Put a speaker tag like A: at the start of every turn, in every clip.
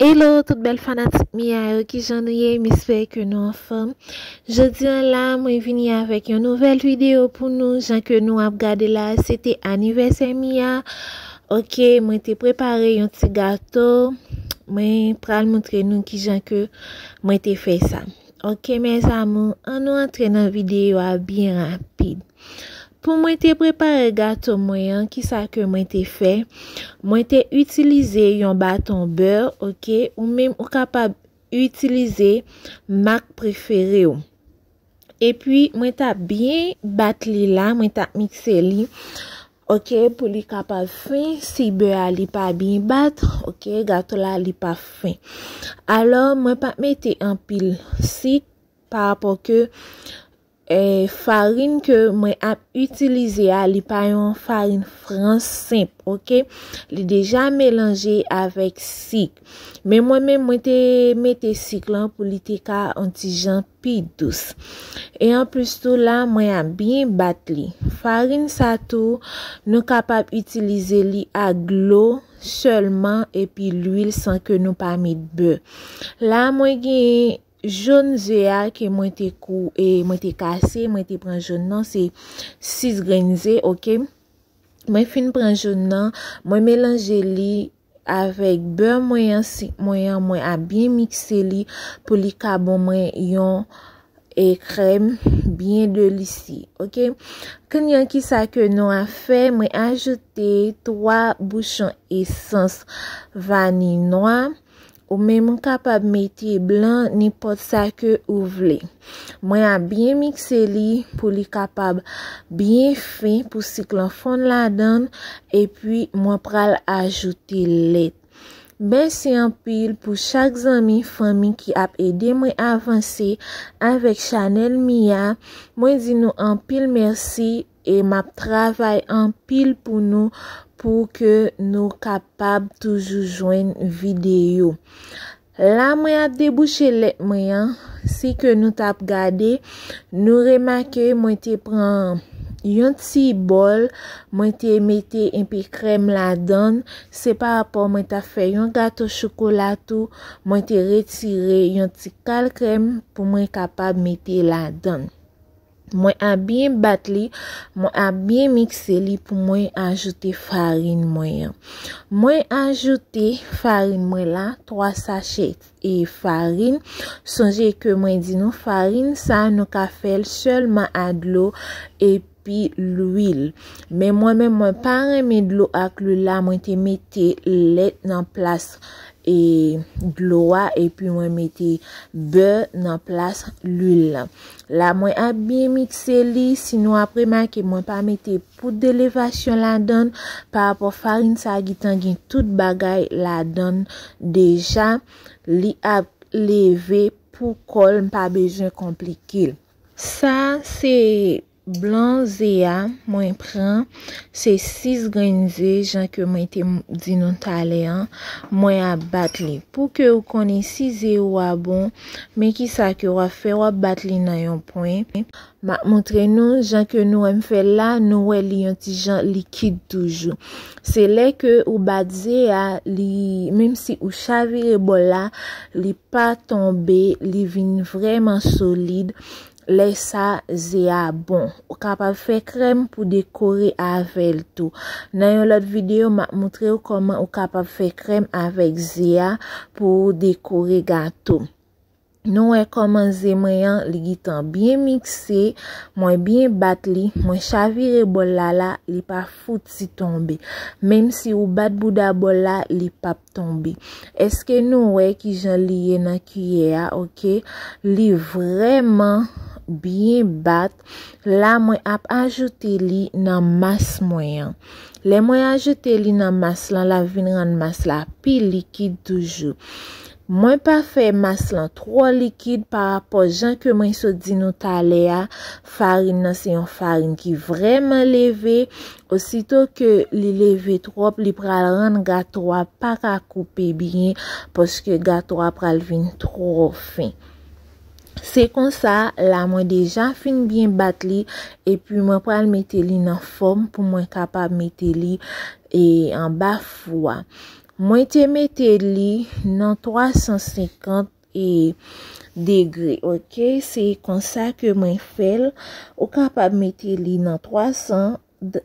A: Hello tout bèl fanatik Mia yo ki jan nou ye misper ke nou anfèm Jodi an la mwen vini avèk yon nouvèl video pou nou jan ke nou ap gade la se te anivèsè Mia ok mwen te prepare yon ti gato mwen pral moutre nou ki jan ke mwen te fè sa. Ok mes amour an nou antre nan video a byen rapid pou mwen te prepare gato mwen an ki sa ke mwen te fè mwen te itilize yon baton beur ok ou menm ou kapab itilize mak prefere ou epi mwen ta byen bat li la mwen ta mikse li Ok pou li kapab fin si bè a li pa byn bat ok gato la li pa fin alò mwen pa mete anpil sik pa rapò ke eh farin ke mwen ap itilize a li pa yon farin frans senp ok li deja melanje avèk sik men mwen menm mwen te mete sik lan pou li te ka yon ti jan. pi dous. E anplis tou la mwen ap byen bat li. Farin sa tou nou kapab itilize li ak dlo sèlman epi lwil san ke nou pa met bè. La mwen gen jòn ze a ke mwen te kou e mwen te kase mwen te pran jòn nan se 6 grenn ze ok. Mwen fin pran jòn nan mwen melanje li. Avèk bè mwen an sik mwen an mwen ap byen mikse li pou li ka bon mwen yon e krèm byen delisi ok knnya ki sa ke nou a fè mwen ajoute 3 bouchon esans vani nwa Ou menm ou kapab mete blan nenpòt sa ke ou vle. Mwen ap byen mikse li pou li kapab byen fen pou sik lan fonn ladan epi mwen pral ajoute lèt. Mèsi anpil pou chak zanmi fanmi ki ap ede mwen avanse avèk chanèl mi a. Mwen di nou anpil mèsi e map travay anpil pou nou pou ke nou kapab toujou jwenn video la mwen ap debouche let mwen an si ke nou tap gade nou remake mwen te pran yon ti bol mwen te mete enpe krem la dan se pa rapò mwen ta fè yon gato chokola tou mwen te retire yon ti kal krem pou mwen kapab mete la dan. Mwen a byen bat li, mwen a byen mikse li pou mwen ajoute farin mwen an. Mwen ajoute farin mwen la, 3 sachè e farin. Sonje ke mwen di nou farin sa nou ka fèl sèlman a dlo e pi lwil. Men mwen men mwen pa renmen dlo ak lwil la, mwen te mete lèt nan plas e dlo a e pi mwen mete bè nan plas lwil la. La mwen ap byen mikse li, si nou ap remake mwen pa mete poud de levasyon ladann, pa rapò farin sa gitan gen tout bagay ladann deja, li ap leve pou kòl m pa bezwen konplike l. Sa se blan ze a mwen pran. Se 6 grenn ze jan ke mwen te di nou talè an, mwen ap bat li. Pou ke ou konnen si ze ou a bon, men kisa ke wap fè, wap bat li nan yon pwen. Map montre nou, jan ke nou wèm fèl la, nou wè li yon ti jan likid toujou. Se lè ke ou bat ze a, li, menm si ou chavire bòl la, li pa tonbe, li vin vrèman solid. Lè sa ze a bon. Ou kapab fè krèm pou dekore avèl tou. Nan yon lòt video map moutrew kòman ou kapab fè krèm avèk ze a pou ou dekore gato. Nou wè kòman ze mwen an li gitan byen mikse, mwen byen bat li, mwen chavire bòl la la li pa fouti tonbe. Menm si ou bat bouda bòl la li pap. tonbe eske nou wè kijan li ye nan kiyè a ok li vrèman byen bat la mwen ap ajoute li nan mas mwen an lè mwen ajoute li nan mas lan la vin rann mas la pi likid toujou mwen pa fè mas lan tro likid pa rapò jan ke mwen sot di nou talè a farin nan se yon farin ki vrèman leve Osito ke li leve trop li pral rann gato a paka koupe byen paske gato a pral vin tro fen. Se konsa la mwen deja fin byen bat li epi mwen pral mete li nan fom pou mwen kapab mete li e anba fou a. Mwen te mete li nan 350. e degre ok se konsa ke mwen fèl ou kapab mete li nan 300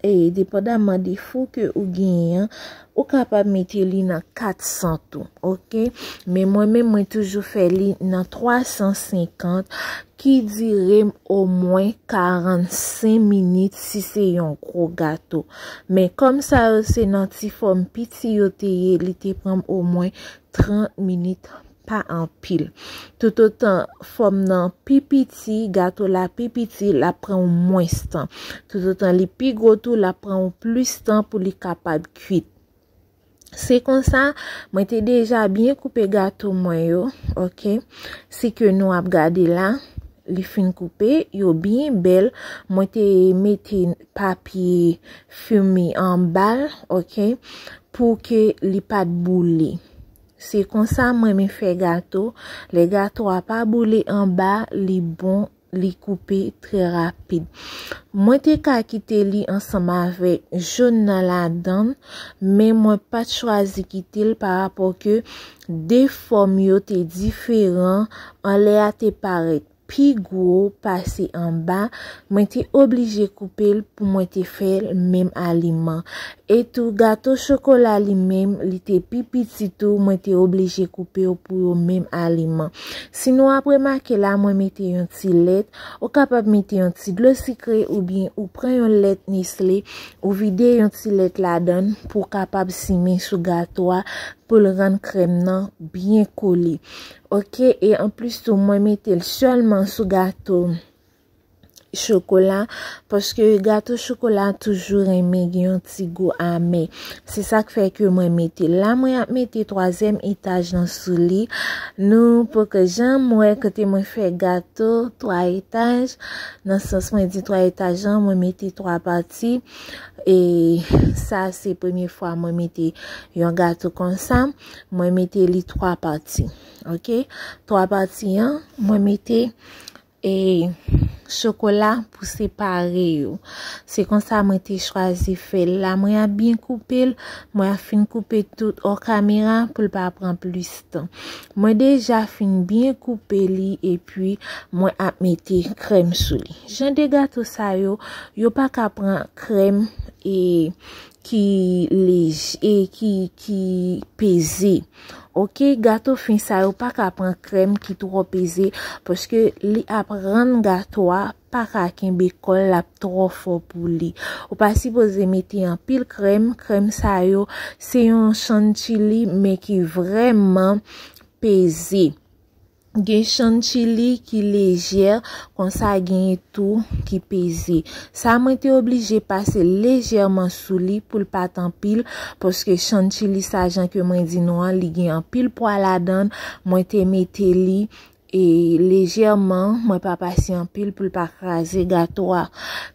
A: e depandaman de fou ke ou genyen ou kapab mete li nan 400 tou ok men mwen men mwen toujou fè li nan 350 ki dire m o mwen 45 minit si se yon gro gato men kom sa yo se nan ti fom piti yo te ye li te pranm o mwen 30 minit pa anpil. Toutotan fòm nan pi piti, gato la pi piti, l ap pran ou mwens tan. Toutotan li pi gwo tou, l ap pran ou plis tan pou li kapab kuit. Se konsa, mwen te deja byen koupe gato mwen yo, ok, si ke nou ap gade la. li fin koupe yo byen bèl mwen te mete papye fimi anbal ok pou ke li pat boule se konsa mwen men fè gato le gato a pa boule anba li bon li koupe trè rapid mwen te ka kite li ansanm avèk joun nan ladann men mwen pat chwazi kite l pa rapò ke De fòm yo te diferan, anlè a te parèt pi gwo pase anba, mwen te oblije koupe l pou mwen te fè menm aliman. Etou gato chokola li menm, li te pi piti tou, mwen te oblije koupe yo pou yo menm aliman. Si nou ap remake la mwen mete yon ti lèt, ou kapab mete yon ti dlo sikre oubyen ou pran yon lèt Nestlé, ou vide yon ti lèt ladan l pou w kapab simen sou gato a, pou l rann krèm nan byen kole ok e anplis tou mwen mete l sèlman sou gato chokola paske gato chokola toujou renmen gen yon ti gou ame se sa k fè ke mwen mete l la mwen ap mete twazyèm etaj nan sou li nou pou ke jan mwen kote mwen fè gato twa etaj nan sans mwen di twa etaj jan mwen mete twa pati e sa se premye fwa mwen mete yon gato konsa mwen mete li 3 pati ok 3 pati an mwen mete e chokola pou separe yo se konsa mwen te chwazi fè la mwen a byen koupe mwen a fin koupe tout o kamera pou l pa pran plis tan Mwen deja fin byen koupe li epi mwen ap mete krèm sou li. Jan de gato sa yo, yo pa ka pran krèm e ki leje, e ki peze. Ok, gato fin sa yo pa ka pran krèm ki twò peze paske li ap rann gato a paka kenbe kòl lap trò fò pou li ou pa sipoze mete anpil krèm krèm sa yo se yon chantilly men ki vrèman peze gen chantilly ki lejè konsa gen tou ki peze sa mwen te oblije pase lejèman sou li poul pat anpil paske chantilly sa jan ke mwen di nou an li gen anpil pwa ladan mwen te mete li E lejèman, mwen pa pase anpil pou l pa kraze gato a.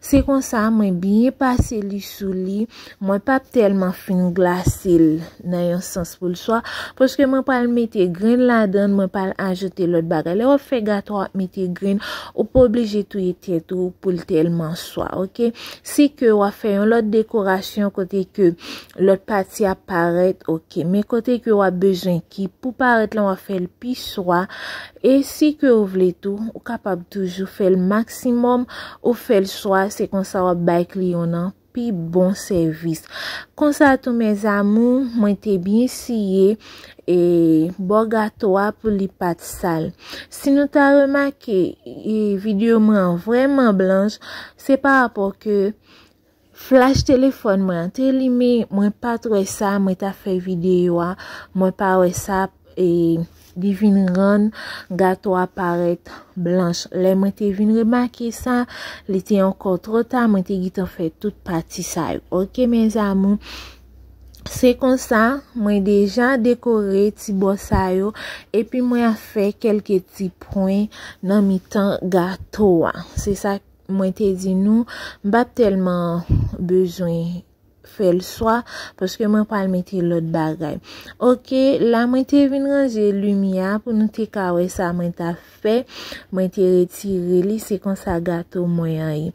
A: Se konsa, mwen byen pase li sou li, mwen pa p tèlman fin glase l nan yon sans pou l swa, paske mwen pral mete grenn ladan l, mwen pral ajoute lòt bagay. Lè w ap fè gato a, w ap mete grenn, ou pa oblije touye tèt ou pou l tèlman swa, ok. Si ke w ap fè yon lòt dekorasyon kote ke Lot pati ap paret ok. Men kote ke wap bezwen ki pou paret lan wap fel pi swa. E si ke ou vle tou ou kapab toujou fel maksimom ou fel swa se konsa wap bay kliyon nan pi bon sevis. Konsa tou mes amour mwen te byen siye e bo gato a pou li pat sal. Si nou ta remake e video mwen an vreman blanch se pa rapor ke Flash telefòn mwen an te limen mwen pat wè sa mwen tap fè video a mwen pa wè sa e li vin rann gato a parèt blanch lè mwen te vin remake sa li te ankò trò ta mwen te gitan fè tout pati sa yo ok mes amours. Se konsa mwen deja dekore ti bò sa yo epi mwen ap fè kelke ti pwen nan mitan gato a se sa. Mwen te di nou, m pa t tèlman bezwen fè l swa, paske mwen pral mete lòt bagay. Oke, la mwen te vin ranje limyè a pou nou te ka wè sa mwen ta fè. Mwen te retire li, se konsa gato mwen an ye.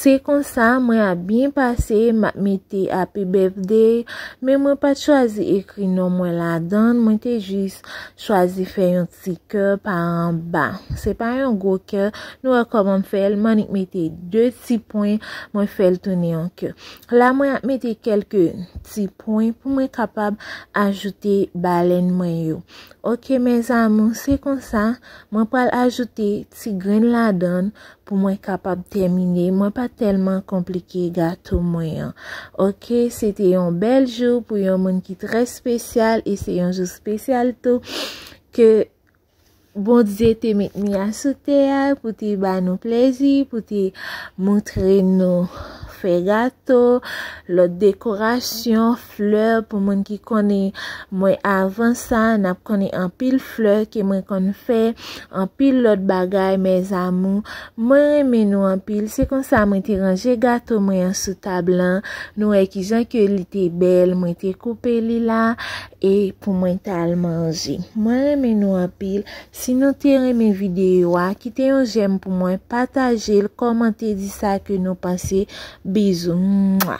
A: Se konsa, mwen ap byen pase, m ap mete Happy Birthday, men mwen pa t chwazi ekri non mwen ladan l, mwen te jis chwazi fè yon. Ti kè pa anba. Se pa yon gwo kè. Nou wè kòman m fè l. M annik mete 2 ti pwen. Mwen fè l tounen yon kè. La mwen ap mete kèlke ti pwen pou mwen kapab ajoute balèn mwen yo. Ok mes amours. Se konsa mwen pral ajoute ti grenn ladan Pou mwen kapab tèmine, mwen pa tèlman konplike gato mwen an. Ok, se te yon bèl jou pou yon moun ki trè spesyal e se yon jou spesyal tou ke Bondye te met mi a sou tè a pou te ba nou plezi, pou te moutre nou fè gato, lòt dekorasyon. fleur pou moun ki konnen mwen avan sa nap konnen anpil fleur ke mwen konn fè anpil lot bagay mes amour mwen renmen nou anpil se konsa mwen te ranje gato mwen an sou tab lan nou wè kijan ke li te bèl mwen te koupe li la e pou mwen tal manje mwen renmen nou anpil si nou te renmen video a kite yon jèm pou mwen patajel komante di sa ke nou panse bizou mwa.